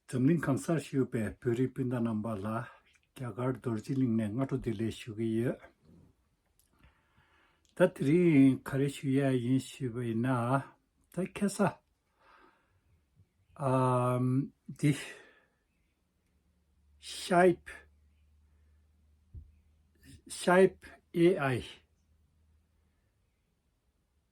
འཛམ་གླིང་གང་སར་བཞུགས་པའི་བོད་རིགས་སྤུན་ཟླ་རྣམ་པ་ལ་རྒྱ་གར་རྡོ་རྗེ་གླིང་ནས་སྔ་དྲོ་བདེ་ལེགས་ཞུ་གི་ཡོད། ད་དེ་རིང་ག་རེ་ཞུ་ཡས་ཡིན་ཞུས་པ་ཡིན་ན། ད་ཁེ་ས་འདི། Shype Shype AI།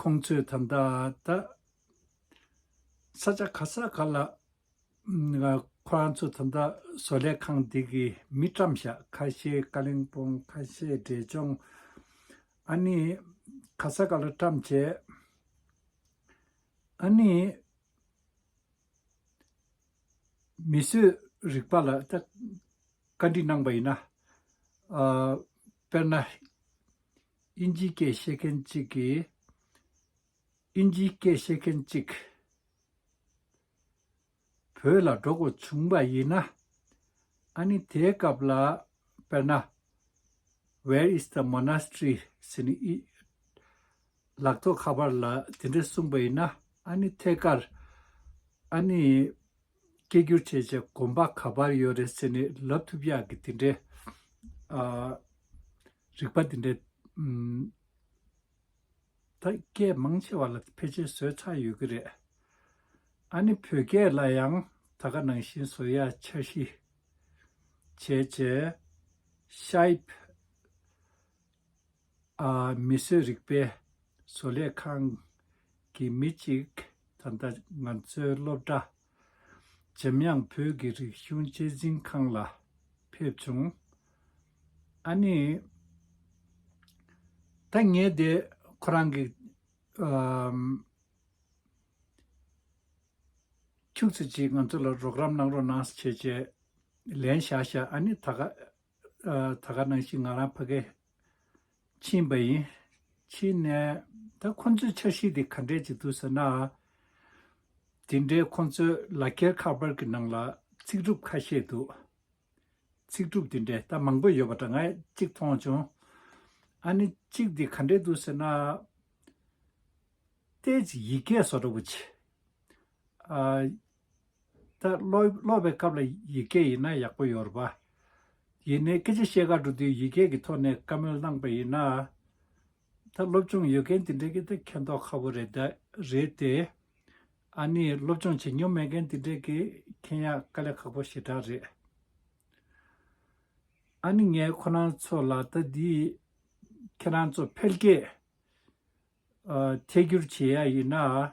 ཁོང་ཚོས་ད་ལྟ་ད་ས་ཆ་ག་ས་ག་ལ་ཁོ་རང་ཚོ་ད་ལྟ་བཟོ་ལས་ཁང་འདི་གི་མི་བཀྲམ་ཤག་ཁ་ཤས་ཀ་ལིང་པོང་ཁ་ཤས་འབྲས་ལྗོང་ཨ་ནི་ག་ས་ག་ལ་བཀྲམ་བྱས་ཨ་ནི་མི་གསོད་རིག་པ་ལ་ད་བཀའ་འདྲི་གནང་པ་ཡིན་ན་དཔེར་ན། ཨིན་ཇིའི་སྐད་བཤད་མཁན་གཅིག་གིས། ཨིན་ཇིའི་སྐད་བཤད་མཁན་གཅིག། བོད་ལ་འགྲོ་དགོས་བྱུང་བ་ཡིན་ན། ཨཱ་ནི་དེའི་སྐབས་ལ་དཔེར་ན། Where is the monastery ཟེར་ནས་ཨི། ལག་ཐོག་ཁ་པར་ལ་དེ་འདྲ་གསུངས་པ་ཡིན་ན་ཨཱ་ནི་ཐད་ཀར། ཨཱ་ནི། སྐད་སྒྱུར་བྱེད་བྱེད་གོམ་པ་ག་པར་ཡོད་རེད་ཟེར་ནས་ལབ་ཐུབ་ཡག་གི་དེ་འདྲའི། རིག་པ་འདི་འདྲའི་དར་རྒྱས་མང་ཆེ་བ་ལ་ཕལ་ཆེར་བཟོས་ཚར་ཡོད་ཀྱི་རེད། ཨ་ནི་བོད་སྐད་ལ་ཡང་ད་ག་ནང་བཞིན་བཟོ་ཡ་འཆར་གཞི་བྱས་བྱས། ཤཱིབ། ཨ་མི་བཟོས་རིག་པའི་བཟོ་ལས་ཁང་གི་མི་གཅིག་ད་ལྟ་ང་ཚོའི་སློབ་གྲྭ་འཇམ་དབྱངས་བོད་ཀྱི་རིག་གཞུང་དཔྱད་འཛིན་ཁང་ལ་ཕེབས་བྱུང། ཨ་ནི། ད་ངས་དེ་ཁོ་རང་གི། ཁྱུག་ཚེ་གཅིག་ང་ཚོ་ལ་རོགས་རམ་གནང་རོགས་གནང་བྱས། ལན་བཞག་བཞག་ཨ་ནི་ད་ག། ད་ག་གནང་བཞིན་ང་རང་ཕ་གའི་ཕྱིན་པ་ཡིན། ཕྱིན་ནས་ད་ཁོ་ཚོའི་འཆར་གཞི་དེ་ག་འདྲས་ཀྱི་འདུག་ཟེར་ན། དེ་འདྲའི་ཁོ་ཚོའི་ལག་འཁྱེར་ཁ་པར་གྱི་ནང་ལ་ཚིག་གྲུབ་ཁ་ཤས་འདུག་ཚིག་གྲུབ་དེ་འདྲས་ད་མང་པོ་ཡོད་པ་འདྲ་ངས་གཅིག་མཐོང་བྱུང། ཨ་ནི་གཅིག་དེ་ག་འདྲས་འདུག་ཟེར་ན། ལྟས་ཀྱི་ཡི་གེ་སོགས་འདྲ་བོ་ཆེ། ད་ཀློག་པའི་སྐབས་ལ་ཡིག་སྐད་ཡིན་ན་ཡག་པོ་ཡོད་རེད་པ། ཡིན་ནའི་སྐད་ཆ་བཤད་ག་འགྲོ་དུས་ཡིག་སྐད་ཀྱི་ཐོག་ནས་བཀའ་མོལ་གནང་པ་ཡིན་ན། ད་སློབ་སྦྱོང་ཡོད་མཁན་འདི་འདྲའི་གི་ད་མཁྱེན་རྟོགས་ཁ་བོ་རེད་དེ། ཨ་ནི་སློབ་སྦྱོང་བྱེད་མྱོང་མེད་མཁན་འདི་འདྲའི་གི་མཁྱེན་ཡག་དཀའ་ལས་ཁག་པོ་ཞེ་དྲག་རེད། ཨ་ནི་ངས་ཁོ་རང་ཚོ་ལ་ད་འདི་ཁྱེད་རང་ཚོ་འཕེལ་རྒྱས་ཐད་བསྒྱུར་བྱེད་ཡ་ཡིན་ན།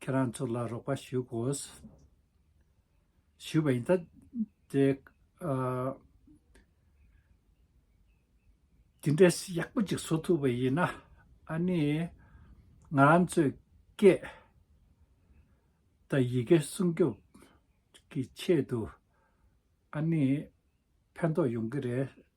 ཁྱེད་རང་ཚོ་ལ་རོགས་པ་ཞུ་དགོས། ཞུས་པ་ཡིན་ད། དེ་འདྲས་ཡག་པོ་ཅིག་བཟོ་ཐུབ་པ་ཡིན་ན་ཨ་ནི་ང་རང་ཚོའི་སྐད་དང་ཡི་གེ་སྲུང་སྐྱོབ་ཀྱི་ཆེད་དུ་ཨ་ནི་ཕན་ཐོགས་ཡོང་གི་རེད།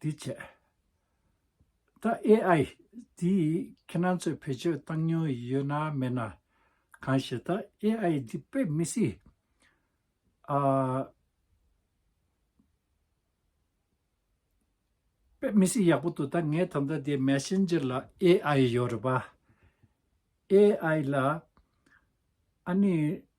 དེའི་ཆེད་ད AI འདིས་ཁྱེད་རང་ཚོས་བེད་སྤྱོད་བཏང་མྱོང་ཡོད་ན་མེད་ན། གང་ཞེ་ད AI འདི་དཔེ་མི་སྲིད། དཔེ་མི་སྲིད་ཡག་པོ་འདུག་ད་ངས་ད་ལྟ་དེ Messenger ལ AI ཡོད་རེད་པ། AI ལ་ཨ་ནི་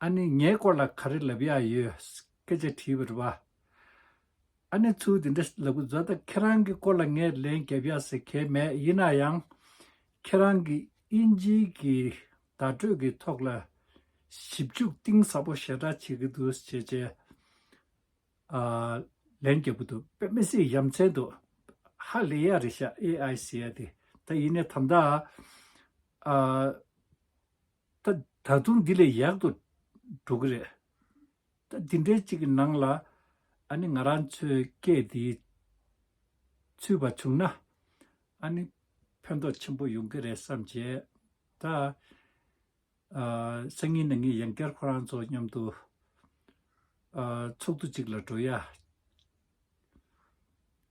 ཨ་ནི་ངའི་སྐོར་ལ་ག་རེ་ལབ་ཡ་ཡོད་སྐད་ཆ་དྲིས་པར་བ། ཨ་ནི་ཚུལ་དེ་འདྲ་ལབ་གི་བཟོ་ད་ཁྱེད་རང་གི་སྐོར་ལ་ངས་ལན་རྒྱབ་ཡ་ཟེར་གལ་མེད་ཡིན་ན་ཡང། ཁྱེད་རང་གི་དབྱིན་ཇི་གི་བརྡ་སྤྲོད་ཀྱི་ཐོག་ལ་ཞིབ་འཇུག་གཏིང་ཟབ་པོ་ཞེ་དྲག་བྱེད་ཀྱི་འདུག་ཅེས་བྱས། ཨ་ལན་རྒྱབ་གི་འདུག་པེ་མེ་སི་ཡམ་ཚན་དུ། ཧ་ལས་ཡ་རེད་ཤག་ཨེ་ཨའི་སི་ཡ་དེ་ད་ཡིན་ནས་དམ་ད། ཨ། ད་ད་དུང་འདི་ལས་ཡག་ཏུ་འགྲོ་གི་རེད། ད་འདི་འདྲའི་ཅིག་གི་ནང་ལ་ཨ་ནི་ང་རང་ཚོའི་སྐད་འདིའི་ཚུད་པ་བྱུང་ན་ཨ་ནི་ཕན་ཐོགས་ཆེན་པོ་ཡོང་གི་རེད་བསམ་བྱས། ད་སང་ཉིན་ནས་ངས་ཡང་བསྐྱར་ཁོ་རང་ཚོ་མཉམ་དུ་ཚོགས་འདུ་ཅིག་ལ་འགྲོ་ཡ།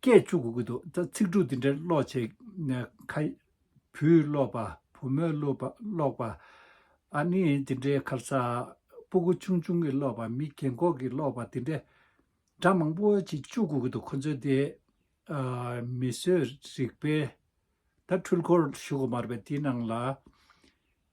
སྐད་བཅུ་དགུ་དགུ་འདུག་ད་ཚིག་དྲུག་འདི་འདྲ་ཀློག་བྱེད་ནས་ཁ། བུས་ཀློག་པ་བུ་མོས་ཀློག་པ། ཨ་ནི་འདི་འདྲའི་ཁར་ཚ། སྤུ་གུ་ཆུང་ཆུང་གིས་ཀློག་པ་མི་རྒན་འཁོགས་ཀྱིས་ཀློག་པ་འདི་འདྲ། སྒྲ་མང་པོ་ཅིག་བཅུ་དགུ་དགུ་འདུག་ཁོ་ཚོས་དེ། མི་གསོད་རིག་པའི། ད་འཕྲུལ་འཁོར་བཞུགས་མར་པའི་དེའི་ནང་ལ།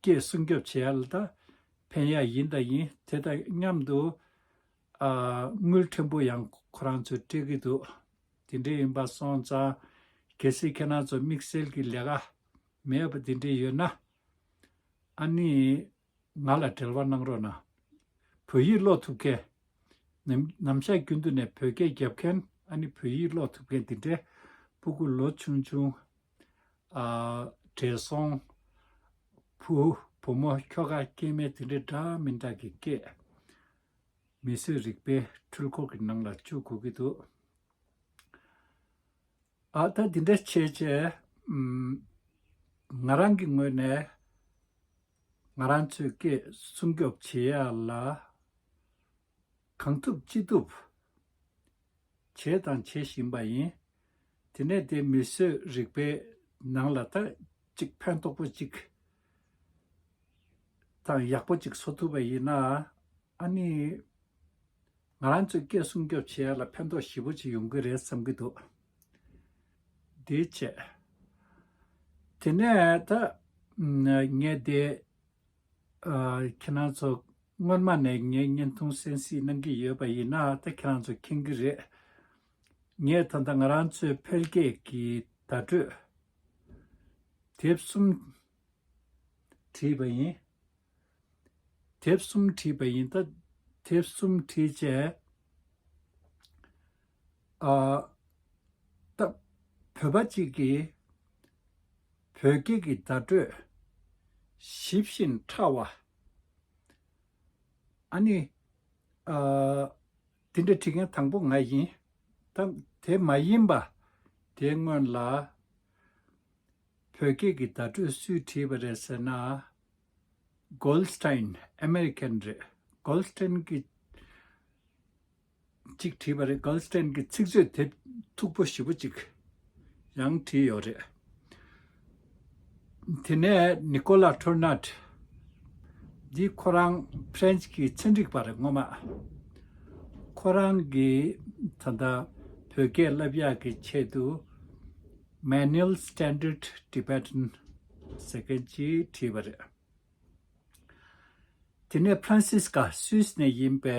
སྐད་སྲུང་སྐྱོབ་བྱེད་ཡ་ལ་ད་ཕན་ཡ་ཡིན་ད་ཡིན་དེ་དང་མཉམ་དུ། དངུལ་ཕྲན་བུ་ཡང་ཁོ་རང་ཚོས་སྤྲད་ཀྱི་འདུག་དེ་འདྲའི་ཡིན་པ་སོང་ཙང། གལ་སྲིད་ཁྱེད་རང་ཚོ་དམིགས་བསལ་གྱི་ལས་ཀ་མེད་པ་དེ་འདྲའི་ཡོད་ན། ཨ་ནི། ང་ལ་འབྲེལ་བ་གནང་རོགས་གནང། བོད་ཡིག་ཀློག་ཐུབ་མཁན། ནམ་བཞག་རྒྱུན་དུ་ནས་བོད་སྐད་རྒྱབ་མཁན་ཨ་ནི་བོད་ཡིག་ཀློག་ཐུབ་མཁན་དེ་འདྲའི་སྤུ་གུ་ལོ་ཆུང་ཆུང་བྲེལ་སོང། བུ། བུ་མོ་ཁྱོ་ག་སྐྱེས་མས་དེ་འདྲའི་འདྲ་མི་འདྲ་གི་སྐད། མི་གསོད་རིག་པའི་འཁྲུལ་འཁོར་གྱི་ནང་ལ་བཅུག་དགོས་ཀྱི་འདུག། ཨ། ད་འདི་འདྲ་བྱས་རྗེས། ང་རང་གི་ངོས་ནས། ང་རང་ཚོའི་སྐད་སྲུང་སྐྱོབ་བྱེད་ཡ་ལ། གང་ཐུབ་ཅི་ཐུབ་བྱས་དང་བྱེད་བཞིན་པ་ཡིན། དེ་ནས་དེ་མི་གསོད་རིག་པའི་ནང་ལ་ད་ཅིག་ཕན་ཐོགས་པོ་ཅིག་དང་ཡག་པོ་ཅིག་བཟོ་ཐུབ་པ་ཡིན་ན་ཨ་ནི་ང་རང་ཚོས་སྐད་སྲུང་སྐྱོབ་བྱེད་ཡ་ལ་ཕན་ཐོགས་ཞིབ་པོ་ཅིག་ཡོང་གི་རེད་བསམ་གྱི་འདུག་དེའི་ཆེད། དེ་ནས་ད་ངས་དེ་ཁྱེད་རང་ཚོ་སྔོན་མ་ནས་ངའི་བརྙན་ཐུང་གསན་སྲིད་གནང་གི་ཡོད་པ་ཡིན་ན་ད་ཁྱེད་རང་ཚོ་མཁྱེན་གི་རེད། ངས་ད་ལྟ་ང་རང་ཚོའི་འཕེལ་རྒྱས་ཀྱི་བརྡ་སྤྲོད་དེབ་གསུམ་བྲིས་པ་ཡིན། དེབ་གསུམ་བྲིས་པ་ཡིན། ད་དེབ་གསུམ་བྲིས་རྗེས། སྟབས། བོད་པ་གཅིག་གིས་བོད་སྐད་ཀྱི་བརྡ་སྤྲོད་ཞིབ་བཞིན་ཕྲ་བ། ཨ་ནི། འདི་འདྲ་བྲིས་མཁན་དང་པོ་ང་ཡིན། དེ་མ་ཡིན་པ་དེའི་སྔོན་ལ། བོད་སྐད་ཀྱི་བརྡ་སྤྲོད་སུས་བྲིས་པ་རེད་ཟེར་ན། Goldstein། American། རེད། Goldstein། གྱིས་ཅིག་བྲིས་པ་རེད་གཱལ་སྟྲན་གྱི་ཚིག་མཛོད་དེབ་མཐུག་པོ་ཞིབ་པོ་ཅིག་ཡང་བྲིས་ཡོད་རེད། དེ་ནས་ནི་ཀོ་ལཱ་ཐུར་ནཱ་ཏི་འདི་ཁོ་རང་ཕ་རན་སི་ཀྱི་ཚན་རིག་པ་རེད་ངོ་མ། ཁོ་རང་གིས་ད་ལྟ་བོད་སྐད་བསླབ་ཡག་གི་ཆེད་དུ Manual Standard Tibetan ཟེར་མཁན་ཅིག་བྲིས་པ་རེད། དེ་ནས་ཕ་རན་སིས་ཀ་སུས་ནས་ཡིན་པའི་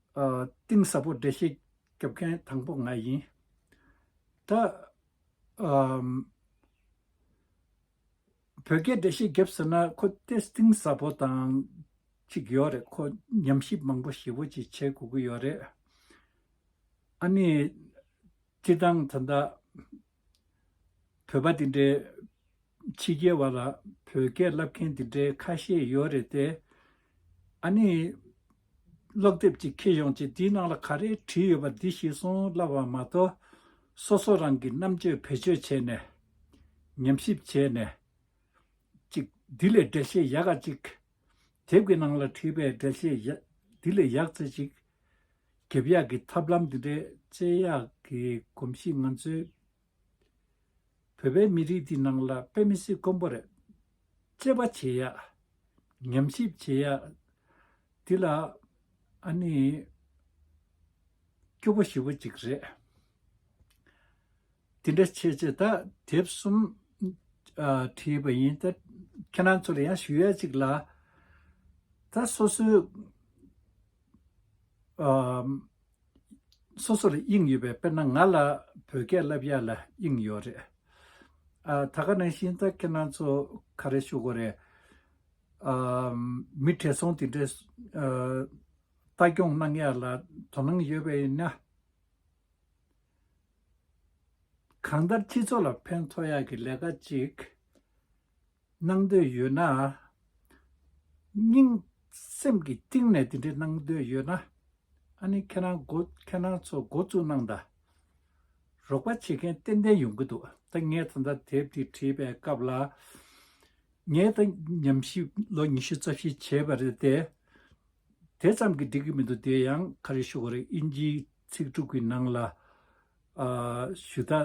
གཏིང་ཟབ་པོ་འགྲེལ་བཤད་རྒྱོབ་མཁན་དང་པོ་ང་ཡིན། ད། བོད་སྐད་འགྲེལ་བཤད་རྒྱོབ་ཟེར་ན་ཁོ་སྟེ་གཏིང་ཟབ་པོ་དང་ཅིག་ཡོད་རེད་ཁོ་ཉམས་ཞིབ་མང་པོ་ཞེ་བོ་ཅིག་བྱེད་དགོས་ཀྱི་ཡོད་རེད། ཨ་ནི། སྤྱིར་བཏང་ད་ལྟ། བོད་པ་དེ་འདྲའི། ཕྱི་རྒྱལ་བ་ལ་བོད་སྐད་བསླབ་མཁན་དེ་འདྲའི་ཁ་ཤས་ཡོད་རེད་དེ། ཨ་ནི། ཀློག་དེབ་ཅིག་ཁྱེར་ཡོང་ཅིག་དེའི་ནང་ལ་ག་རེ་བྲིས་ཡོད་པ་འདི་ཤེས་སོང་བསླབ་བ་མ་གཏོགས། སོ་སོ་རང་གི་རྣམ་དཔྱོད་བེད་སྤྱོད་བྱས་ནས། ཉམས་ཞིབ་བྱས་ནས། ཅིག་འདི་ལས་འགྲེལ་བཤད་ཡག་ག་ཅིག་དེབ་ཀྱི་ནང་ལ་བྲིས་པའི་འགྲེལ་བཤད་ཡ། འདི་ལས་ཡག་ཚེ་ཅིག། འགེབས་ཡག་གི་ཐབས་ལམ་འདི་འདྲའི་དཔྱད་ཡག་གི་གོམས་གཤིས་ང་ཚོའི། བོད་པའི་མི་རིགས་འདི་ནང་ལ་དཔེ་མི་སྲིད་དཀོན་པོ་རེད། དཔྱད་པ་བྱེད་ཡག། ཉམས་ཞིབ་བྱེད་ཡག། འདི་ལ། ཨ་ནི། སྐྱོ་པོ་ཞི་བོ་ཅིག་རེད། དེ་འདྲ་བྱེད་ཅེས་ད་དེབ་གསུམ་བྲིས་པ་ཡིན། ཁྱེད་རང་ཚོ་ལ་ཡང་ཞུ་ཡ་ཅིག་ལ། ད་སོ་སོའི་སོ་སོ་ལ་དབྱིངས་ཡོད་པས་དཔེར་ན་ང་ལ་བོད་སྐད་བསླབ་ཡ་ལ་དབྱིངས་ཡོད་རེད། ད་ག་ནང་བཞིན་ད་ཁྱེད་རང་ཚོ་ག་རེ་ཞུ་དགོས་རེད། མི་བྲེལ་སོང་དེ་འདྲའི་ལྟ་སྐྱོང་གནང་ཡ་ལ་དོ་སྣང་ཡོད་པས་ཡིན་ན། གང་ལྟར་སྤྱི་ཚོགས་ལ་ཕན་ཐོགས་ཡག་གི་ལས་ཀ་ཅིག་གནང་འདོད་ཡོད་ན། སྙིང་སེམས་ཀྱི་གཏིང་ནས་དེ་འདྲ་གནང་འདོད་ཡོད་ན། ཨ་ནི་ཁྱེད་རང་འགོ་ཁྱེད་རང་ཚོ་འགོ་བཙུགས་གནང་ད། རོགས་པ་བྱེད་མཁན་ཏན་ཏན་ཡོང་གི་འདུག་ད་ངས་ད་ལྟ་དེབ་འདི་བྲིས་པའི་སྐབས་ལ། ངས་ད་ཉམས་ཞིབ་ལོ་ཉི་ཤུ་རྩ་བཞི་བྱས་པ་རེད་དེ། དེ་ཙམ་གྱིས་འགྲིག་གི་མི་འདུག་དེ་ཡང་ག་རེ་ཞུ་ག་རེ་དབྱིན་ཇིའི་ཚིག་དྲུག་གི་ནང་ལ། ཞུ་དག་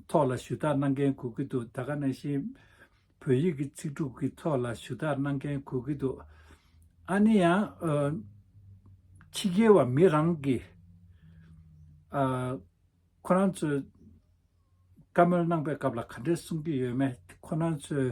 ཐོག་ལ་ཞུ་དག་གནང་མཁན་གོ་གི་འདུག་ད་ག་ནང་བཞིན་བོད་ཡིག་གི་ཚིག་དྲུག་གི་ཐོག་ལ་ཞུ་དག་གནང་མཁན་གོ་གི་འདུག་ཨ་ནི་ཡང། ཕྱི་རྒྱལ་བ་མི་རང་གིས། ཁོ་རང་ཚོས་བཀའ་མོལ་གནང་པའི་སྐབས་ལ་ག་འདྲས་གསུང་གི་ཡོད་མེད་ཁོ་རང་ཚོས།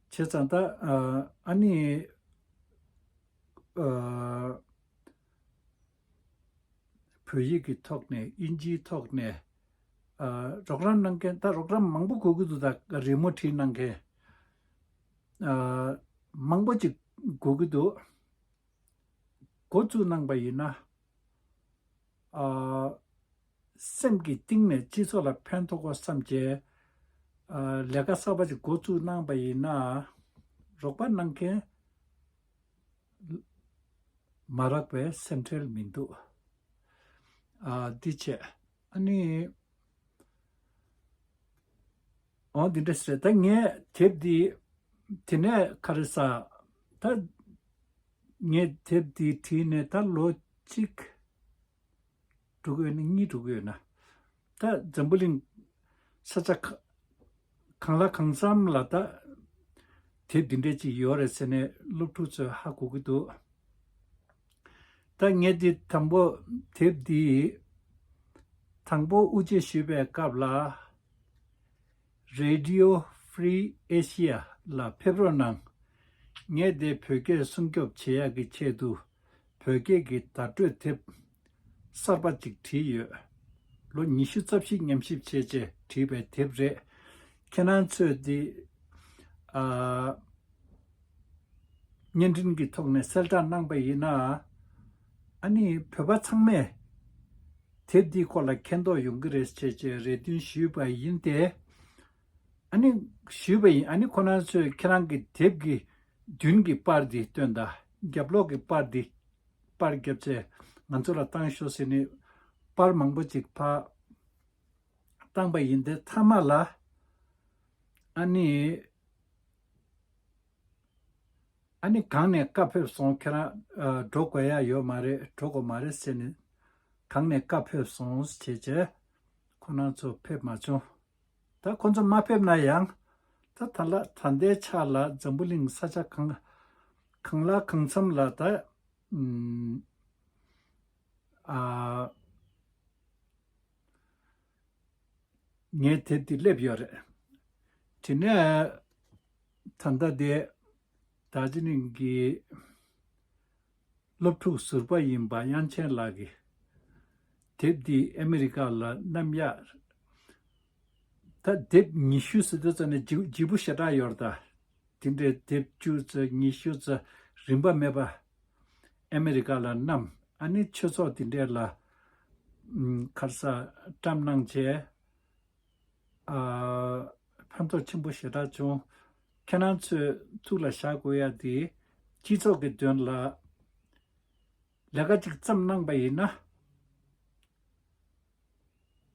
བྱས་ཙང་ད་ཨ་ནི། བོད་ཡིག་གི་ཐོག་ནས་དབྱིན་ཇིའི་ཐོག་ནས། རོགས་རམ་གནང་མཁན་ད་རོགས་རམ་མང་པོ་གོ་གི་འདུག་ད་རི་མོ་བྲིས་གནང་མཁན། མང་པོ་ཅིག་གོ་གི་འདུག། འགོ་བཙུགས་གནང་པ་ཡིན་ན། སེམས་ཀྱི་གཏིང་ནས་སྤྱི་ཚོགས་ལ་ཕན་ཐོགས་སྐོར་བསམ་བྱས། ལས་ཀ་གསར་པ་ཞིག་འགོ་བཙུགས་གནང་བ་ཡིན་ན། རོགས་པ་གནང་མཁན་མ་རག་པའི་སེམས་ཁྲལ་མི་འདུག་འདི་བྱས། ཨ་ནི། འོ་དེ་འདྲ་ཟེར་ད་ངས་དེབ་དེ། དེ་ནས་ཁ་རེ་ས། ད། ངས་དེབ་དེ་བྲིས་ནས་ད་ལོ་གཅིག། དྲུག་ཡོད་ན་གཉིས་དྲུག་ཡོད་ན། ད་འཛམ་བུ་གླིང། ས་ཆ། གང་ལ་གང་འཚམ་ལ་ད། དེབ་འདི་འདྲ་ཅིག་ཡོད་རེད་ཟེར་ནས་སློབ་ཕྲུག་ཚོས་ཧ་གོ་གི་འདུག། ཐ་སྙད་འདི་དང་པོ་དེབ་འདིའི་དང་པོ་དབུ་འབྱེད་ཞུས་པའི་སྐབས་ལ། Radio Free Asia། ལ་ཕེབས་རོགས་གནང། ངས་འདི་བོད་སྐད་སྲུང་སྐྱོབ་བྱེད་ཡག་གི་ཆེད་དུ་བོད་སྐད་ཀྱི་བརྡ་སྤྲོད་དེབ་གསར་པ་ཅིག་བྲིས་ཡོད། ལོ་ཉི་ཤུ་རྩ་བཞི་ཉམས་ཞིབ་བྱས་རྗེས་བྲིས་པའི་དེབ་རེད། ཁྱེད་རང་ཚོས་འདི། བརྙན་འཕྲིན་གྱི་ཐོག་ནས་གསལ་བསྒྲགས་གནང་པ་ཡིན་ན། ཨ་ནི་བོད་པ་ཚང་མས་དེབ་འདིའི་སྐོར་ལ་མཁྱེན་རྟོགས་ཡོང་གི་རེད་ཅེས་ཀྱི་རེ་འདུན་ཞུས་པ་ཡིན་ཏེ། ཨ་ནི། ཞུས་པ་ཡིན་ཨ་ནི་ཁོ་ན་ཚོས་ཁྱེད་རང་གི་དེབ་ཀྱི་མདུན་གྱི་པར་འདི་བཏོན་དང་རྒྱབ་ལོགས་ཀྱི་པར་འདི་པར་བརྒྱབ་ཚེ་ང་ཚོ་ལ་བཏང་ཤོག་ཟེར་ནས་པར་མང་པོ་ཅིག་ཕབ་བཏང་པ་ཡིན་ཏེ་མཐའ་མ་ལ་ཨ་ནི། ཨ་ནི་གང་ནས་བཀའ་ཕེབས་སོང་ཁྱེད་རང་འགྲོ་དགོས་ཡ་ཡོད་མ་རེད་འགྲོ་དགོས་མ་རེད་ཟེར་ནས་གང་ནས་བཀའ་ཕེབས་སོང་བྱས་བྱས་ཁོ་ནང་ཚོ་ཕེབས་མ་བྱུང་ད་ཁོ་ཚོ་མ་ཕེབས་ན་ཡང་ད་ད་ལ་ད་ཟླའི་ཆ་ལ་འཛམ་བུ་གླིང་ས་ཆ་གང་གང་ལ་གང་འཚམས་ལ་ད་ཨ། ངས་དེབ་དེ་སླེབས་ཡོད་རེད། དེ་ནས་ད་ལྟ་དེ་རྡ་རྗེ་གླིང་གི་སློབ་ཕྲུག་ཟུར་པ་ཡིན་པ་དབྱངས་ཆེན་ལགས་ཀྱིས་དེབ་འདི་ཨ་མི་རི་ཀ་ལ་བསྣམས་ཡ། ད་དེབ་ཉི་ཤུ་ཟེར་དུས་ཙཱ་ནས་བརྗིད་པོ་ཞེ་དྲགས་ཡོད་རེད་ད། དེ་འདྲའི་དེབ་བཅུ་ཙཱ་ཉི་ཤུ་ཙཱ་རིན་པ་མེད་པ། ཨ་མེ་རི་ཀ་ལ་གནམ་ཨ་ནི་ཆོས་ཚོགས་དེ་འདྲས་ལ། མཁར་ས་བཀྲམ་གནང་བྱས། ཕན་ཐོགས་ཆེན་པོ་ཞེ་དྲག་བྱུང། ཁྱེད་རང་ཚོས་ཐུགས་ལ་བཞག་དགོས་ཡ་དེ། སྤྱི་ཚོགས་ཀྱི་དོན་ལ་ལས་ཀ་ཅིག་བརྩམས་གནང་པ་ཡིན་ན།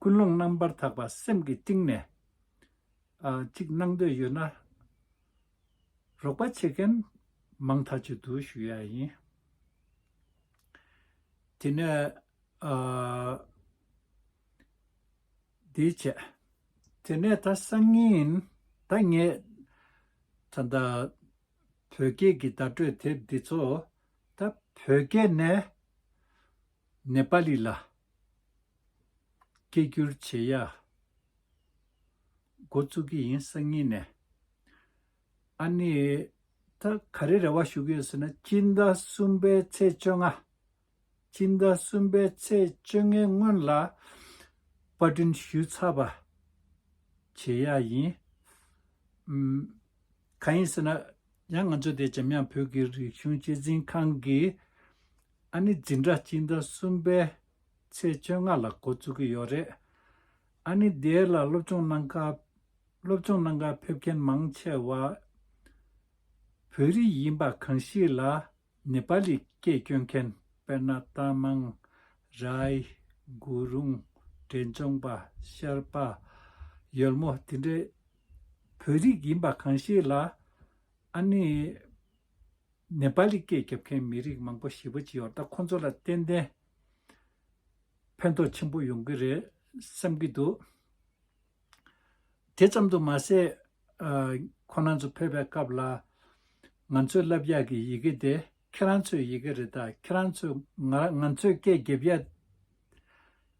ཀུན་སློང་རྣམ་པར་དག་པ་སེམས་ཀྱི་གཏིང་ནས། ཅིག་གནང་འདོད་ཡོད་ན། རོགས་པ་བྱེད་མཁན་མང་དག་ཅིག་འདུག་ཞུ་ཡ་ཡིན། དེ་ནས་འདི་བྱས། དེ་ནས་ད་སང་ཉིན་ཡིན་ད་ངས་ད་ད་བོད་སྐད་ཀྱི་བརྡ་སྤྲོད་དེབ་འདི་ཚོ་ད་བོད་སྐད་ནས་ནེ་པ་ལི་ལ་སྐད་བསྒྱུར་བྱེད་ཡ། འགོ་བཙུགས་ཀྱི་ཡིན་སང་ཉིན་ནས། ཨཱ་ནི། ད་ག་རེ་རེ་བ་ཞུ་གི་ཡོད་ཟེར་ན་སྤྱི་ཟླ་གསུམ་པའི་ཚེས་བཅོ་ལྔ། སྤྱི་ཟླ་གསུམ་པའི་ཚེས་བཅོ་ལྔའི་སྔོན་ལ་པར་སྐྲུན་ཞུས་ཚར་བ་བྱེད་ཡག་ཡིན། གང་ཡིན་ཟེར་ན་ཡང་ང་ཚོ་དེ་འཇམ་དབྱངས་བོད་ཀྱི་རིག་གཞུང་གཅེས་འཛིན་ཁང་གིས་ཨཱ་ནི་འཛིན་གྲྭ་སྤྱི་ཟླ་གསུམ་པའི་ཚེས་བཅོ་ལྔ་ལ་འགོ་བཙུགས་ཀྱི་ཡོད་རེད། ཨ་ནེ་རྡེལ་ལ་སློབ་སྦྱོང་གནང་སྐབས། སློབ་སྦྱོང་གནང་སྐབས་ཕེབས་མཁན་མང་ཆེ་བ་བོད་རིགས་ཡིན་པ་གང་ཞིག་ལ་ནེ་པ་ལི་སྐད་སྐྱོན་མཁན་དཔེར་ན་རྟ་མང། རའི། གུ་རུང། འབྲས་ལྗོངས་པ། ཤར་པ། ཡོལ་མོ་དེ་འདྲའི་བོད་རིགས་ཡིན་པ་གང་ཞིག་ལ་ཨ་ནེ། ནེ་པ་ལི་སྐད་རྒྱབ་མཁན་མི་རིགས་མང་པོ་ཞིག་བོད་ཀྱི་ཡོ་ད་ཁོ་ཚོ་ལ་ཏན་ཏན། ཕན་ཐོགས་ཆེན་པོ་ཡོང་གི་རེད་བསམ་གྱི་འདུག་དེ་ཙམ་དུ་མ་ཟད། ཁོ་རང་ཚོ་ཕེབས་པའི་སྐབས་ལ། ང་ཚོས་བསླབ་ཡག་གི་ཡི་གེ་དེ་ཁྱེད་རང་ཚོའི་ཡི་གེ་རེད་ད་ཁྱེད་རང་ཚོས་ང་ང་ཚོའི་སྐད་འགེབས་ཡག།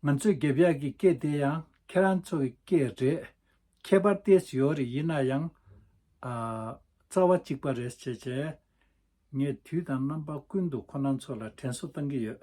ང་ཚོས་འགེབས་ཡག་གི་སྐད་དེ་ཡང་ཁྱེད་རང་ཚོའི་སྐད་རེད། ཁྱད་པར་ཏེ་ཞོའོ་རི་ཡིན་ན་ཡང། རྩ་བ་གཅིག་པ་རེད། ངས་དུས་དང་རྣམ་པ་ཀུན་ཏུ་ཁོ་རང་ཚོ་ལ་དྲན་གསོ་བཏང་གི་ཡོད།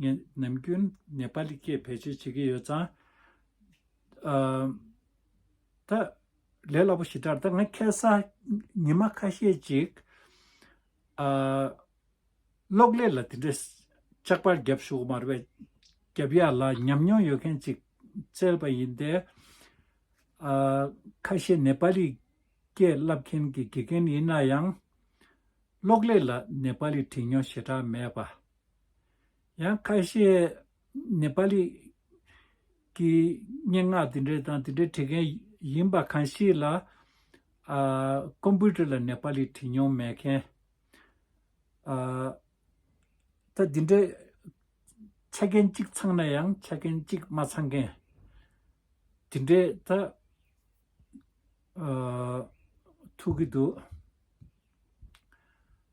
ངས་ནམ་རྒྱུན་ནེ་པ་ལི་སྐད་བེད་སྤྱོད་བྱེད་ཀྱི་ཡོད་ཙང། ད། ལས་སླ་པོ་ཞིག་དྲར་ད་ང་ཁེལ་ས། ཉི་མ་ཁ་ཤས་ཅིག། གློག་ཀླད་ལ་དེ་འདྲའི་ལྕགས་པར་བརྒྱབ་བཞུགས་གི་མ་རེད་པས། བརྒྱབ་ཡག་ལ་ཉམས་མྱོང་ཡོད་མཁན་ཅིག་བཙལ་བ་ཡིན་ཏེ། ཁ་ཤས་ནེ་པ་ལི་སྐད་བསླབ་མཁན་གྱི་དགེ་རྒན་ཡིན་ན་ཡང། གློག་ཀླད་ལ་ནེ་པ་ལི་བྲིས་མྱོང་ཞེ་དྲག་མེད་པ། ཡང་ཁ་ཤས་ནེ་པ་ལི་ཀྱི་སྙན་ངག་དེ་འདྲ་དང་དེ་འདྲ་བྲི་མཁན་ཡིན་པ་གང་ཞིག་ལ། ཀོམ་པུ་ཏར་ལ་ནེ་པ་ལི་བྲིས་མྱོང་མེད་མཁན། ད་དེ་འདྲ་ཆ་རྐྱེན་གཅིག་ཚང་ན་ཡང་ཆ་རྐྱེན་གཅིག་མ་ཚང་མཁན། དེ་འདྲ་ད་ཐུག་གི་འདུག།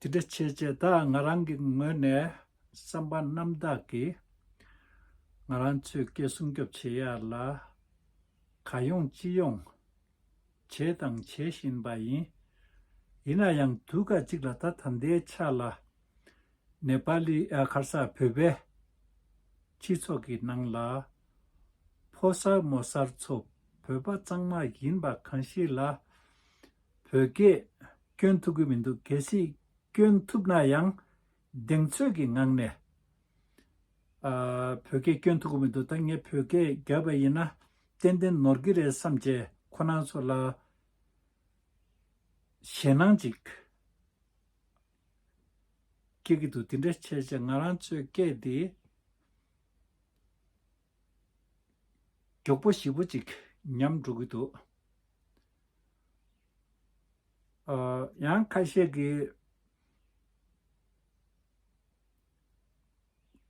དེ་འདྲ་བྱེད་ཅེས་ད་ང་རང་གི་ངོས་ནས་བསམ་པ་རྣམ་དག་གིས་ང་རང་ཚོའི་སྐད་སྲུང་སྐྱོབ་བྱེད་ཡ་ལ་ག་ཡོང་ཅི་ཡོང་བྱས་དང་བྱེད་བཞིན་པ་ཡིན། ཡིན་ན་ཡང་དུས་སྐབས་གཅིག་ལ་ད་ད་ལྟའི་ཆ་ལ་ནེ་པ་ལི་ཨ་ཁར་ས་བོད་པའི་སྤྱི་ཚོགས་ཀྱི་ནང་ལ་ཕོ་གསར་མོ་གསར་ཚོ་བོད་པ་གཙང་མ་ཡིན་པ་གང་ཞིག་ལ་བོད་སྐད་སྐྱོན་ཐུག་གི་མི་འདུག་གལ་སྲིད་སྐྱོན་ཐུབ་ན་ཡང་གདེང་ཚོད་ཀྱི་ངང་ནས། བོད་སྐད་སྐྱོན་ཐུག་གི་མི་འདུག་ད་ངས་བོད་སྐད་བརྒྱབ་པ་ཡིན་ན་ཏན་ཏན་ནོར་གི་རེད་བསམ་བྱས་ཁོ་ནང་ཚོ་ལ་ཞེད་སྣང་ཅིག་སྐྱེ་གི་འདུག་དེ་འདྲ་བྱས་བྱས་ང་རང་ཚོའི་སྐད་དེ་མགྱོགས་པོ་ཞིབ་པོ་ཅིག་ཉམས་འགྲོ་གི་འདུག། ཡང་ཁ་ཤས་ཀྱིས།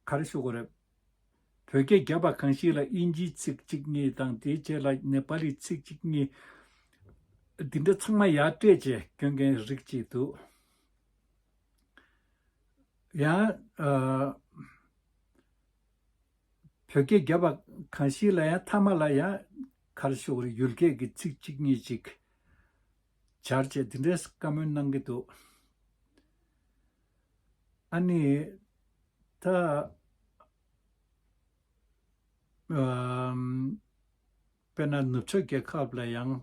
ག་རེ་ཞུ་གི་རེད། བོད་སྐད་རྒྱབ་པ་གང་ཞིག་ལ་དབྱིན་ཇིའི་ཚིག་གཅིག་གཉིས་དང་དེའི་རྗེས་ལ་ནེ་པ་ལིའི་ཚིག་གཅིག་གཉིས། འདི་འདྲ་ཚང་མ་ཡར་སྤྲད་བྱས་སྐྱོན་མཁན་རིགས་གཅིག་འདུག། ཡང། བོད་སྐད་རྒྱབ་པ་གང་ཞིག་ལ་ཡང་ཐ་མ་ལ་ཡང་གར་ཤོག་རི་ཡུལ་སྐད་ཀྱི་ཚིག་གཅིག་གཉིས་གཅིག་སྦྱར་བཅས་དེ་འདྲས་བཀའ་མོལ་གནང་གི་འདུག་ཨ་ནི། ད། དཔེར་ན་ནུབ་ཕྱོགས་རྒྱལ་ཁབ་ལ་ཡང་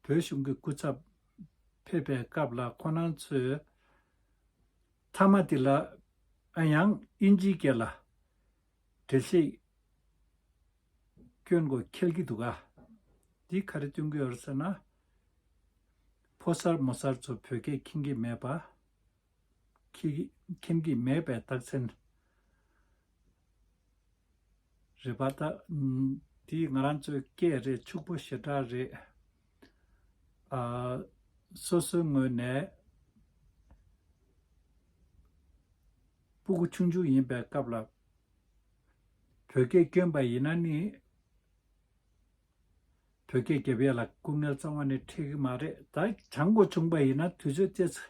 བོད་གཞུང་གི་སྐུ་ཚབ་ཕེབས་པའི་སྐབས་ལ་ཁོ་རང་ཚོས། ཚ་མ་དེ་ལ་ཨ་ཡང་དབྱིན་ཇིའི་སྐད་ལ་བྲེལ་ཤེས་སྐྱོན་གོ་ཁེལ་གི་འདུག་ཨ། འདི་ག་རེ་སྟོན་གི་ཨོར་ཟེར་ན། ཕོ་གསར་མོ་གསར་ཚོ་བོད་སྐད་མཁྱེན་གི་མེད་པ། མཁྱེན་གི་མེད་པའི་རྟགས་མཚན། རེད་པ་ད། དེ་ང་རང་ཚོའི་སྐད་རེད་ཕྱུག་པོ་ཞེ་དྲག་རེད། ཨ། སོ་སོའི་ངོས་ནས། སྤུ་གུ་ཆུང་ཆུང་ཡིན་པའི་སྐབས་ལ། བོད་སྐད་བསྐྱོན་པ་ཡིན་ན་ནི། བོད་སྐད་རྒྱབ་ཡས་ལ་སྐུ་ངལ་གཙང་བ་ནི་འཕྲད་གི་མ་རེད་ད། བྱང་སྒོ་ཆུང་པ་ཡིན་ན་དུས་ཚོད་སྟེ།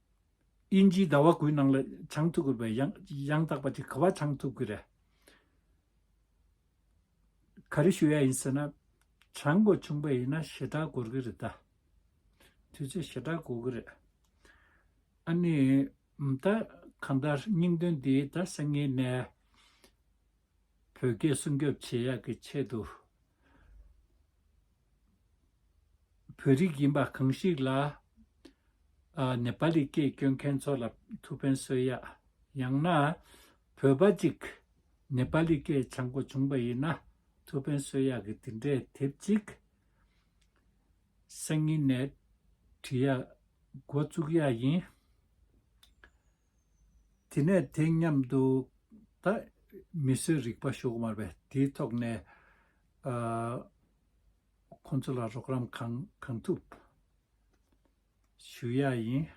དབྱིན་ཇིའི་ཟླ་བ་དགུའི་ནང་ལ་ཆང་འཐུ་དགོས་པའི་ཡང་དག་པ་དེ་ག་བ་ཆང་འཐུ་དགོས་རེད། ག་རེ་ཞུ་ཡ་ཡིན་ཟེར་ན། ཆང་འགོ་ཆུང་པ་ཡིན་ན་ཞེ་དྲག་འགོར་གི་རེད་ད། དུས་ཚོད་ཞེ་དྲག་འགོར་གི་རེད། ཨ་ནི། ད་གང་ལྟར་སྙིང་དོན་འདི་ད་སེང་ངེ་ནས། བོད་སྐད་སྲུང་སྐྱོབ་བྱེད་ཡག་གི་ཆེད་དུ། བོད་རིགས་ཡིན་པ་གང་ཞིག་ལ། ནེ་པ་ལི་སྐད་སྐྱོན་མཁན་ཚོ་ལ་ཐུགས་ཕན་གསོས་ཡ། ཡང་ན། བོད་པ་ཅིག་ནེ་པ་ལི་སྐད་ཆ་མགོ་བྱུང་པ་ཡིན་ན་ཐུགས་ཕན་གསོས་ཡ་གི་དེ་འདྲའི་དེབ་ཅིག་སང་ཉིན་ནས་བྲི་ཡ་མགོ་བཙུགས་ཡ་ཡིན། དེ་ནས་དེ་མཉམ་དུ་ད་མི་སེར་རིག་པ་ཤོག་དམར་བས་དེའི་ཐོག་ནས་ཁོང་ཚོ་ལ་རོགས་རམ་གང་ཐུབ་ཞུ་ཡ་ཡིན།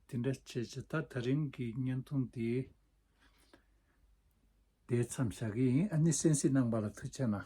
དེ་འདྲ་བྱས་ཚེ་ད་ད་རིང་གི་བརྙན་ཐུང་འདི་འདས་མཚམས་བཞག་གི་ཡིན། ཨ་ནི་སེན་སི་ནང་པ་ལ་ཐུགས་ཆེ་གནང།